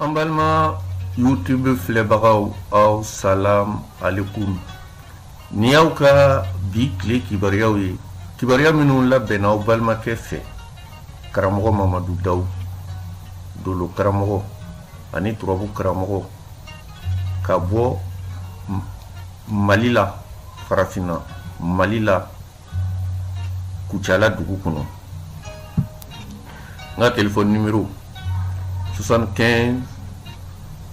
an balima youtube filɛbagaw aw salam alekum ni y'aw ka bi tile kibaruyaw ye kibaruya minnu labɛnna aw balimakɛ fɛ karamɔgɔ mamadu dawu dolo karamɔgɔ ani turabu karamɔgɔ ka bɔ mali la farafinna mali la kucala dugu kɔnɔ n ka telefɔni nimero 75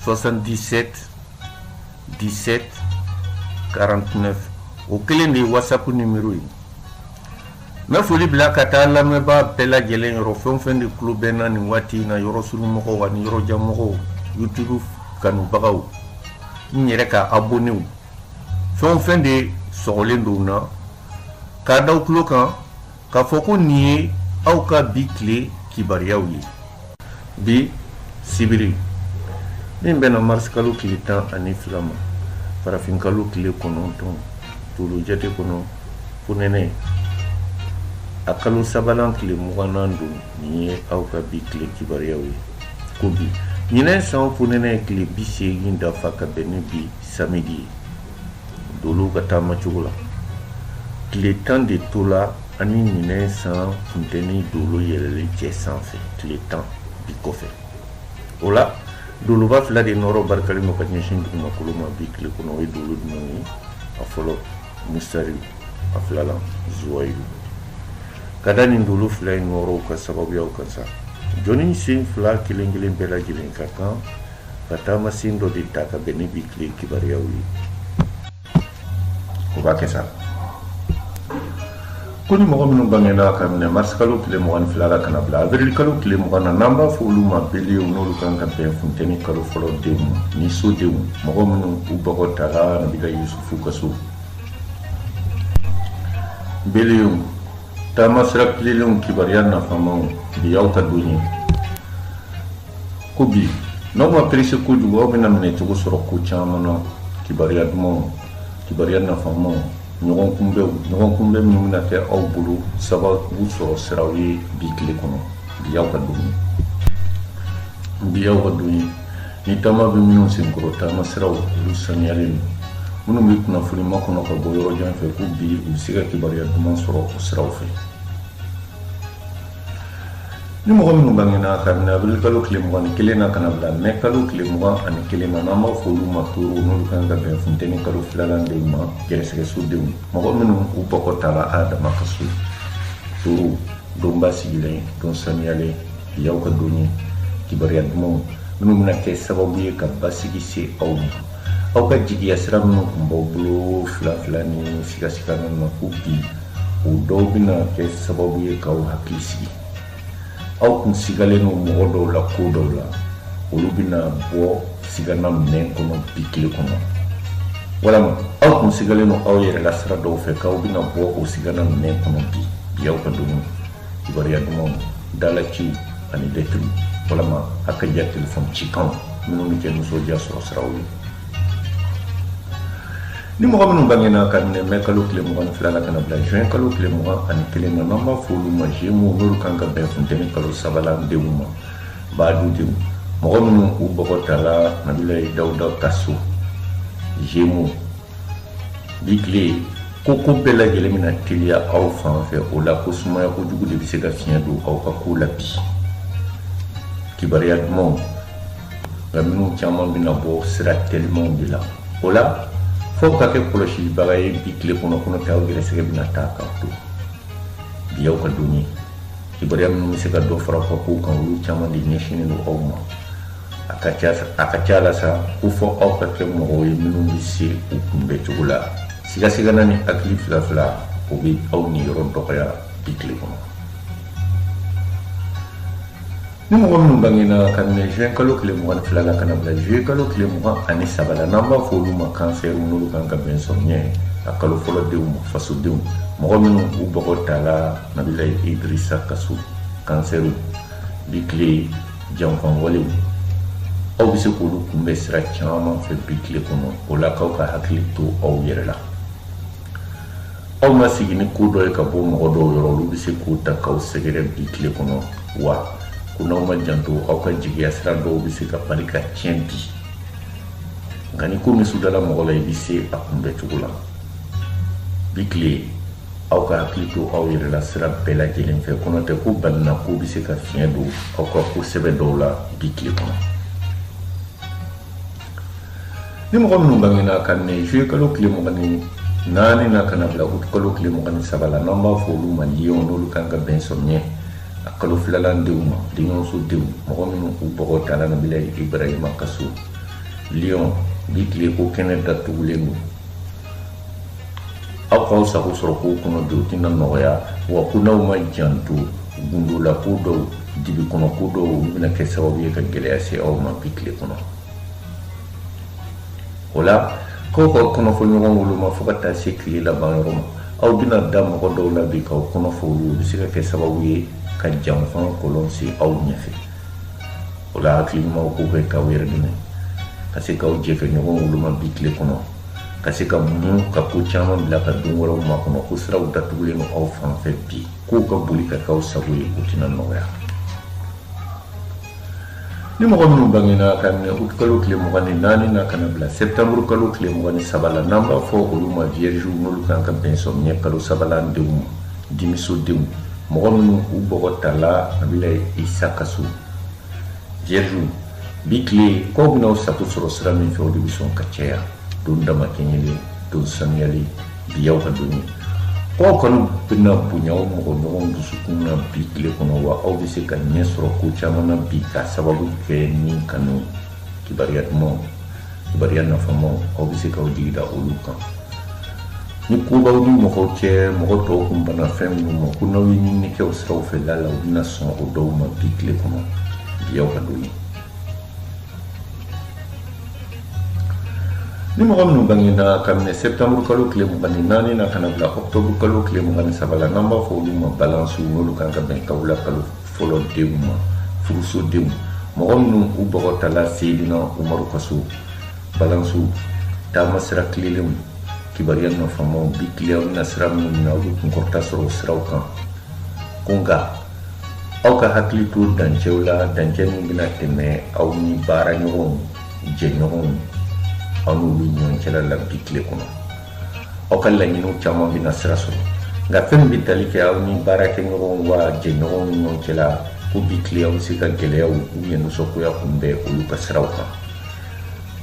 77 17 49 o kelen de ye whatsapp nimero ye n bɛ foli bila ka taa lamɛnbaa bɛɛ lajɛlen yɔrɔ fɛn o fɛn de tulo bɛ na nin waati in na yɔrɔsurunmɔgɔw ani yɔrɔjanmɔgɔw youtube kanubagaw n yɛrɛ ka abonew fɛn o fɛn de sɔgɔlen don na k'a da aw tulo kan k'a fɔ ko nin ye aw ka bi tile kibaruyaw ye bi sibiri min bɛnna marisikalo tile tan ani fila ma farafinkalo tile kɔnɔntɔn dolo jate kɔnɔ fonɛnɛ a kalo sabanan tile muganan don nin ye aw ka bi tile kibaruyaw ye ko bi ɲinɛ san fonɛnɛ tile bi seegin dafa ka bɛn ni bi samedi ye dolo ka taama cogo la tile tan de tola an ni ɲinɛ san funteni dolo yɛlɛlen cɛ sanfɛ tile tan bi kɔfɛ o la doloba fila de nɔrɔ barikalen don ka ɲɛsin dugumakolo ma bi tile kɔnɔ o ye dolo jumɛn ye a fɔlɔ musari a filalan zuwayilu ka da nin dolo fila in nɔrɔw ka sababuyaw kan sa jɔnnin sen fila kelen kelen bɛɛ lajɛlen ka kan ka taamasen dɔ de ta ka bɛn ni bi tile kibaruyaw ye o b'a kɛ sa ko ni mɔgɔ minnu bangena ka minɛ marisikalo tile mugan ni fila la ka na bila avirilikalo tile mugan na n'an b'a fɔ olu ma belew n'olu kan ka bɛn funteni kalo fɔlɔ denw ma ni sodenw mɔgɔ minnu u bɔgɔ tala nabila yusufu ka so belew taama sira tilelenw kibaruya nafamaw bi y'aw ka don ye ko bi n'aw ma perese kojugu aw bɛna minɛcogo sɔrɔ ko caman na kibaruya dumanw kibaruya nafamaw ɲɔgɔn kunbɛnw ɲɔgɔn kunbɛn minnu bɛna kɛ aw bolo sababu sɔrɔ siraw ye bi tile kɔnɔ bi y'aw ka don ye bi y'aw ka don ye ni taama bɛ minnu senkɔrɔ taama siraw olu saniyalen don minnu bɛ kunnafoni makɔnɔ ka bɔ yɔrɔ jan fɛ ko bi u bɛ se ka kibaruya duman sɔrɔ o siraw fɛ ni mɔgɔ minnu bangena ka minɛ avril kalo tile mugan ni kelen na ka na bila mɛ kalo tile mugan ani kelen na n'an b'a fɔ olu ma toro n'olu kan ka bɛn funteni kalo filanan denw ma gɛrɛsɛgɛso denw mɔgɔ minnu u bɔgɔ tala adama ka so toro don basigilen don saniyalen bi y'aw ka don ye kibaruya dumanw minnu bɛna kɛ sababu ye ka basigi se aw ma aw ka jigiya sira minnu tun b'aw bolo fila fila ni sigasiga ninnu na ko bi o dɔw bɛna kɛ sababu ye k'aw hakili sigi aw kun sigalen don mɔgɔ dɔw la ko dɔw la olu bɛna bɔ sigana minɛn kɔnɔ bi tile kɔnɔ walama aw kun sigalen don aw yɛrɛ la sira dɔw fɛ k'aw bɛna bɔ o sigana minɛn kɔnɔ bi bi y'aw ka don ye kibaruya dumanw dalaciw ani lɛtiriw walama a ka ja telefɔni cikanw minnu bɛ kɛ nisɔndiya sɔrɔ siraw ye ni mɔgɔ minnu bangena ka minɛ mɛ kalo tile mugan ni fila la ka na bila juin kalo tile mugan ani kelen na n'an b'a fɔ olu ma jemu n'olu kan ka bɛn funteni kalo sabanan denw ma baadu denw mɔgɔ minnu u bɔgɔ tala nabilayi dawuda ka so jemu bi tile ko ko bɛɛ lajɛlen bɛna teliya aw fan fɛ o la ko sumaya kojugu de bɛ se ka fiɲɛ don aw ka ko la bi kibaruya dumanw nka minnu caman bɛna bɔ sira telimanw de la o la fo ka kɛ kɔlɔsilibaga ye bi tile kɔnɔ ko n'o tɛ aw gɛrɛsɛgɛ bɛna taa k'aw to bi y'aw ka don ye kibaruya minnu bɛ se ka dɔ fara aw ka kow kan olu caman de ɲɛsinnen don aw ma a ka ca a ka ca la sa ko fo aw ka kɛ mɔgɔw ye minnu bɛ se u kunbɛn cogo la sigasigana ni hakili fila fila o bɛ aw niyɔrɔ dɔgɔya bi tile kɔnɔ ni mɔgɔ minnu bangena ka minɛ juin kalo tile mugan ni fila la ka na bila juillet kalo tile mugan ani saba la n'an b'a fɔ olu ma kansɛriw n'olu kan ka bɛn samiɲɛ kalo fɔlɔ denw ma fasodenw mɔgɔ minnu u bɔgɔ tala nabila idrisa ka so kansɛriw bi tile janfan walew aw bɛ se k'olu kunbɛn sira caman fɛ bi tile kɔnɔ o la k'aw ka hakili to aw yɛrɛ la aw ma sigi ni ko dɔ ye ka bɔ mɔgɔ dɔw yɔrɔ olu bɛ se k'o ta k'aw sɛgɛrɛ bi tile kɔnɔ wa ko n'aw m'aw janto aw ka jigiya sira dɔw bɛ se ka bali ka tiɲɛ bi nka ni ko min sudala mɔgɔ la i bɛ se a kunbɛ cogo la bi tile aw ka hakili to aw yɛrɛ la sira bɛɛ lajɛlen fɛ ko n'o tɛ ko balinako bɛ se ka fiɲɛ don aw ka ko sɛbɛ dɔw la bi tile kɔnɔ ni mɔgɔ minnu bangena ka minɛ juye kalo tile mugan ni naani na ka na bila utu kalo tile mugan ni saba la n'an b'a fɔ olu ma liyonw n'olu kan ka bɛn sɔmiɲɛ a kalo filalan denw ma denyɔrɔso denw mɔgɔ minnu u bɔgɔ tala nabila ibrahima ka so liyon bi tile ko kɛnɛ datugulen don aw k'aw sago sɔrɔ kow kɔnɔ bi o tɛna nɔgɔya wa ko n'aw ma janto gundolako dɔw dibi kɔnɔ ko dɔw olu bɛna kɛ sababu ye ka gɛlɛya se aw ma bi tile kɔnɔ o la k'aw ka kɔnɔfɔ ɲɔgɔn woloma fo ka taa se tile laban yɔrɔ ma aw bɛna da mɔgɔ dɔw la bi k'aw kɔnɔfɔ olu bɛ se ka kɛ sababu ye ka janfa kɔlɔn sen aw ɲɛfɛ o la hakili ɲumanw k'u kɛ k'aw yɛrɛ dɛmɛ ka se k'aw jɛ kɛ ɲɔgɔn woloma bi tile kɔnɔ ka se ka muɲu ka ko caman bila ka don wɛrɛw makɔnɔ ko siraw datugulen don aw fan fɛ bi kow ka boli ka k'aw sago ye o tɛna nɔgɔya Ni mɔgɔ minnu bangena ka minɛ août kalo tile mugan ni naani na ka na bila septembre kalo tile mugan ni saba la n'an b'a fɔ olu ma viergew n'olu kan ka bɛn sɔmiɲɛ kalo sabalan denw ma dimiso denw mɔgɔ minnu u bɔgɔ tala Nabila Isa ka so viergew bi tile k'aw bɛn'aw sago sɔrɔ sira min fɛ o de bɛ sɔn ka caya don damakɛɲɛlen don sanuyalen bi y'aw ka don ye aw kɔni bɛna bonya aw mɔgɔɲɔgɔn dusukun na bi tile kɔnɔ wa aw bɛ se ka ɲɛ sɔrɔ ko caman na bi k'a sababu kɛ ni kanu kibaruya dumanw kibaruya nafamaw aw bɛ se k'aw jigi da olu kan ni ko b'aw ni mɔgɔw cɛ mɔgɔ tɔw kun banna fɛn minnu ma ko n'aw ye ɲinini kɛ o siraw fɛ laala u bɛna sɔn o dɔw ma bi tile kɔnɔ bi y'aw ka don ye ni mɔgɔ minnu bangena ka minɛ septembre kalo tile mugan ni naani na ka na bila octobre kalo tile mugan ni saba la n'an b'a fɔ olu ma balansiw n'olu kan ka bɛn kawula kalo fɔlɔ denw ma furuso denw mɔgɔ minnu u bɔgɔ tala seyidina umaru ka so balansiw taama sira tilelenw kibaruya nafamaw bi tile aw bɛna sira minnu minɛ aw bɛ kunkɔrɔta sɔrɔ o siraw kan ko nka aw ka hakili to dancɛw la dancɛ min bɛna tɛmɛ aw ni baaraɲɔgɔnw jɛɲɔgɔnw aw n'olu ɲɔgɔn cɛla la bi tile kɔnɔ aw ka laɲiniw caman bɛna sira sɔrɔ nka fɛn min bɛ tali kɛ aw ni baarakɛɲɔgɔnw wa jɛɲɔgɔnw ni ɲɔgɔn cɛla ko bi tile aw bɛ se ka gɛlɛyaw u ɲɛ nisɔngoya kunbɛn olu ka siraw kan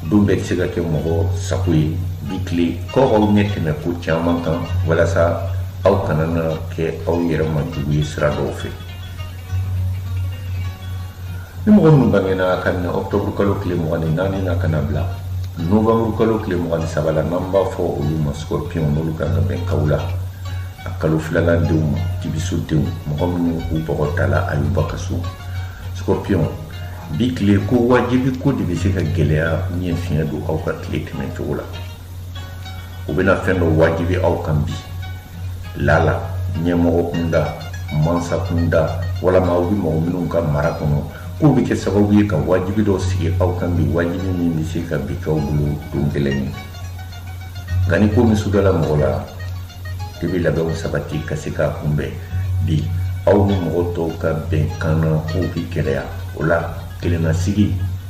don bɛɛ tɛ se ka kɛ mɔgɔ sago ye bi tile k'aw k'aw ɲɛ tɛmɛ ko caman kan walasa aw kana na kɛ aw yɛrɛ ma jugu ye sira dɔw fɛ ni mɔgɔ minnu bangena ka minɛ ɔktɔburu kalo tile mugan ni naani na ka na bila novanburu kalo tile mugan ni saba la n'an b'a fɔ olu ma scorpion n'olu kan ka bɛn kawula a kalo filanan denw ma dibiso denw mɔgɔ minnu u bɔgɔ tala ayuba ka so scorpion bi tile ko wajibi ko de bɛ se ka gɛlɛya ni fiɲɛ don aw ka tile tɛmɛ cogo la u bɛna fɛn dɔ wajibi aw kan bi lala ɲɛmɔgɔ kunda mansa kunda walama aw bɛ mɔgɔ minnu ka mara kɔnɔ k'o bɛ kɛ sababu ye ka wajibi dɔ sigi aw kan bi wajibi min bɛ se ka bi k'aw bolo don gɛlɛn ye nka ni ko min sudala mɔgɔ la i bɛ labɛnw sabati ka se k'a kunbɛn bi aw ni mɔgɔ tɔw ka bɛnkan na kow bɛ gɛlɛya o la kelennasigi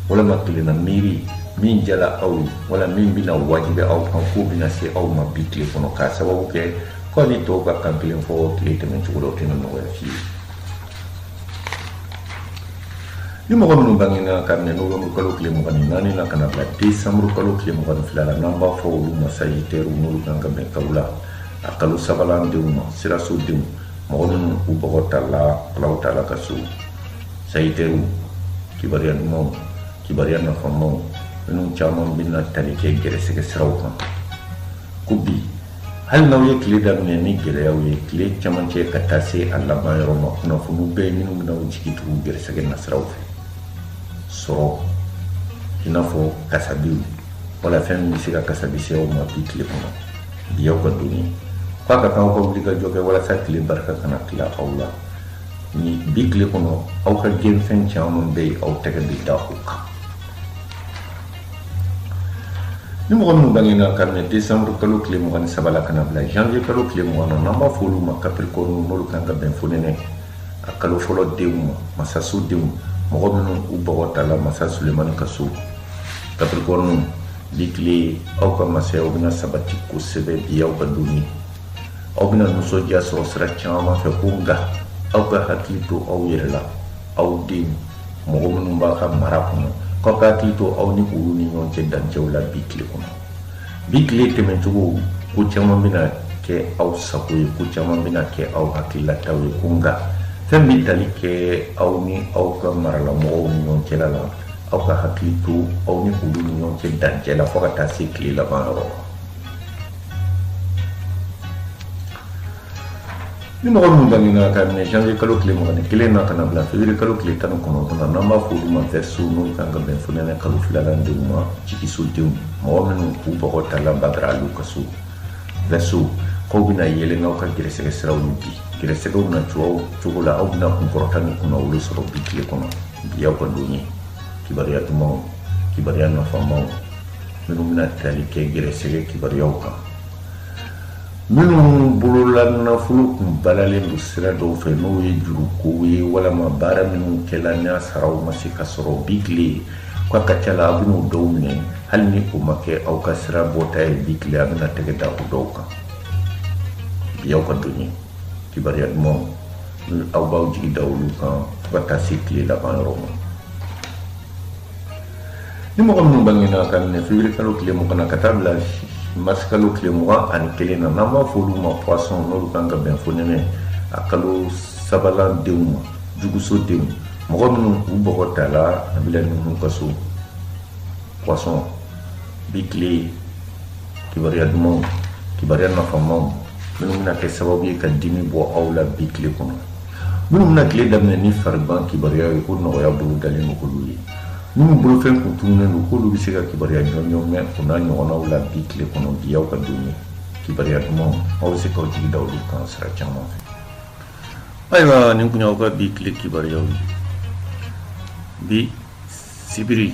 walama kelenna miiri min jala aw ye wala min bɛna wajibi aw kan k'o bɛna se aw ma bi tile kɔnɔ k'a sababu kɛ k'aw ni tɔw ka kan kelen fɔ tile tɛmɛn cogo la o tɛna nɔgɔya fiyewu ni mɔgɔ minnu bangena ka minɛ novembre kalo tile mugan ni naani na ka na bila décembre kalo tile mugan ni fila la n'an b'a fɔ olu ma sagittaire n'olu kan ka bɛn kawule a kalo sabalan denw ma siraso denw mɔgɔ minnu u bɔgɔ tala alaw tala ka so sagittaire kibaruya dumanw kibaruya nafamaw minnu caman bɛna tali kɛ gɛrɛsɛgɛ siraw kan ko bi hali n'aw ye tile daminɛ ni gɛlɛyaw ye tile camancɛ ka taa se a laban yɔrɔ ma kunnafoniw bɛɛ minnu bɛna aw jigi tugu gɛrɛsɛgɛ nasiraw fɛ sɔrɔ i n'a fɔ kasabiw wala fɛn min bɛ se ka kasabi se aw ma bi tile kɔnɔ bi aw ka don ye k'a ka kan aw ka wulikajɔ kɛ walasa tile barika kana tila aw la ni bi tile kɔnɔ aw ka gɛnfɛn caman bɛ yen aw tɛgɛ bɛ da o kan ni mɔgɔ minnu bangena ka minɛ décembre kalo tile mugan ni saba la ka na bila janvier kalo tile mugan na n'an b'a fɔ olu ma capricorne n'olu kan ka bɛn fonɛnɛ a kalo fɔlɔ denw ma masaso denw mɔgɔ minnu u bɔgɔ tala masa sulemani ka so capricorne bi tile aw ka masayaw bɛna sabati kosɛbɛ bi aw ka don ye aw bɛna nisɔndiya sɔrɔ sira caman fɛ ko nka aw ka hakili to aw yɛrɛ la aw den mɔgɔ minnu b'aw ka mara kɔnɔ k'aw ka hakili to aw ni olu ni ɲɔgɔn cɛ dancɛw la bi tile kɔnɔ bi tile tɛmɛcogo ko caman bɛna kɛ aw sago ye ko caman bɛna kɛ aw hakililataw ye ko nka fɛn bɛ tali kɛ aw ni aw ka maralamɔgɔw ni ɲɔgɔn cɛla la aw ka hakili to aw ni olu ni ɲɔgɔn cɛ dancɛ la fo ka taa se tile laban yɔrɔ ma ni mɔgɔ minnu bangena ka minɛ janvier kalo tile mugan ni kelen na ka na bila février kalo tile tan ni kɔnɔntɔn na n'an b'a fɔ olu ma verseau n'olu kan ka bɛn fonɛnɛ kalo filalan denw ma jigisodenw mɔgɔ minnu k'u bɔgɔ tala badara aliw ka so verseau k'aw bɛna yɛlɛ n'aw ka gɛrɛsɛgɛ siraw ye bi gɛrɛsɛgɛw na cogo o cogo la aw bɛna kunkɔrɔta ni kunnawolo sɔrɔ bi tile kɔnɔ bi aw ka don ye kibaruya dumanw kibaruya nafamaw minnu bɛna tali kɛ gɛrɛsɛgɛ kibaruyaw kan minnu bolola nafolo kun balalen don sira dɔw fɛ n'o ye jurukow ye walama baara minnu kɛla n'a saraw ma se ka sɔrɔ bi tile k'a ka ca la a bɛn'o dɔw minɛ hali ni o ma kɛ aw ka sira bɔta ye bi tile a bɛna tɛgɛ da o dɔw kan bi aw ka don ye kibaruya dumanw aw b'aw jigi da olu kan fo ka taa se tile laban yɔrɔ ma ni mɔgɔ minnu bangena ka minɛ février kalo tile mugan na ka taa bila mars kalo tile mugan ani kelen na n'an b'a fɔ olu ma poisson n'olu kan ka bɛn fonɛnɛ a kalo sabanan denw ma juguso denw mɔgɔ minnu u bɔgɔ tala a bila ninnu ka so poisson bi tile kibaruya dumanw kibaruya nafamaw minnu bɛna kɛ sababu ye ka dimi bɔ aw la bi tile kɔnɔ Minnu bɛna tile daminɛ ni farigan kibaruya ye ko nɔgɔya bolo dalen don olu ye minnu bolofɛn kun tununnen don k'olu bɛ se ka kibaruya jɔnjɔn mɛn o n'a ɲɔgɔnnaw la bi tile kɔnɔ bi aw ka don ye kibaruya dumanw aw bɛ se k'aw jigi da olu kan sira caman fɛ ayiwa nin kun y'aw ka bi tile kibaruyaw ye bi sibiri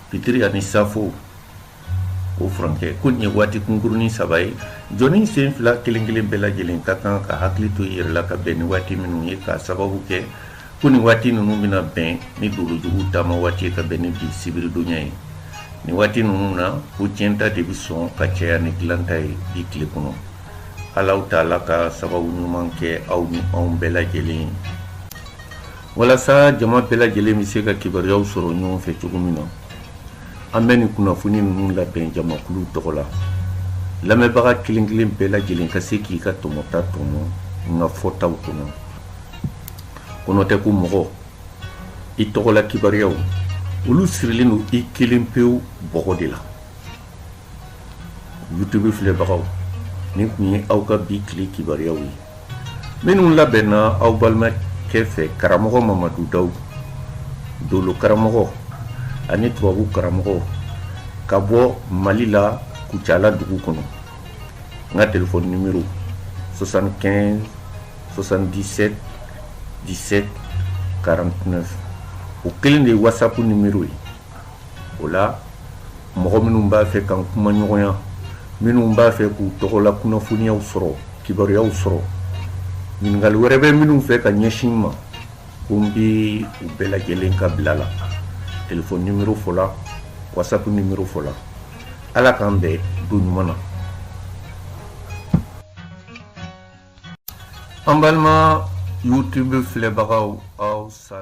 Fitiri ani safo o furankɛ ko nin ye waati kunkurunnin saba ye jɔnnin sen fila kelen-kelen bɛɛ lajɛlen ka kan ka hakili to i yɛrɛ la ka bɛn ni waati minnu ye k'a sababu kɛ ko nin waati ninnu bɛna bɛn ni dolojugu taama waati ye ka bɛn ni bi sibiridonya ye nin waati ninnu na ko tiɲɛta de bɛ sɔn ka caya ni dilanta ye bi tile kɔnɔ alahu taala ka sababu ɲuman kɛ aw ni anw bɛɛ lajɛlen ye walasa jama bɛɛ lajɛlen bɛ se ka kibaruyaw sɔrɔ ɲɔgɔn fɛ cogo min na an bɛ nin kunnafoni ninnu labɛn jamakulu tɔgɔ la lamɛnbaga kelen kelen bɛɛ lajɛlen ka se k'i ka tɔmɔta tɔmɔ n ka fɔtaw kɔnɔ ko n'o tɛ ko mɔgɔ i tɔgɔla kibaruyaw olu sirilen don i kelen pewu bɔgɔ de la youtube filɛbagaw nin kun ye aw ka bi tile kibaruyaw ye minnu labɛnna aw balimakɛ fɛ karamɔgɔ mamadu daw dolo karamɔgɔ ani turabu karamɔgɔ ka bɔ mali la kucala dugu kɔnɔ n ka telefɔni nimero 75 77 17 49 o kelen de ye whatsapp nimero ye o la mɔgɔ minnu b'a fɛ ka n kumaɲɔgɔnya minnu b'a fɛ k'u tɔgɔla kunnafoniyaw sɔrɔ kibaruyaw sɔrɔ ɲininkali wɛrɛ bɛ minnu fɛ ka ɲɛsin n ma ko n bɛ u bɛɛ lajɛlen ka bila la telefɔni nimero fɔla whatsapp nimero fɔla ala k'an bɛn don ɲuman na an balima youtube filɛbagaw aw sa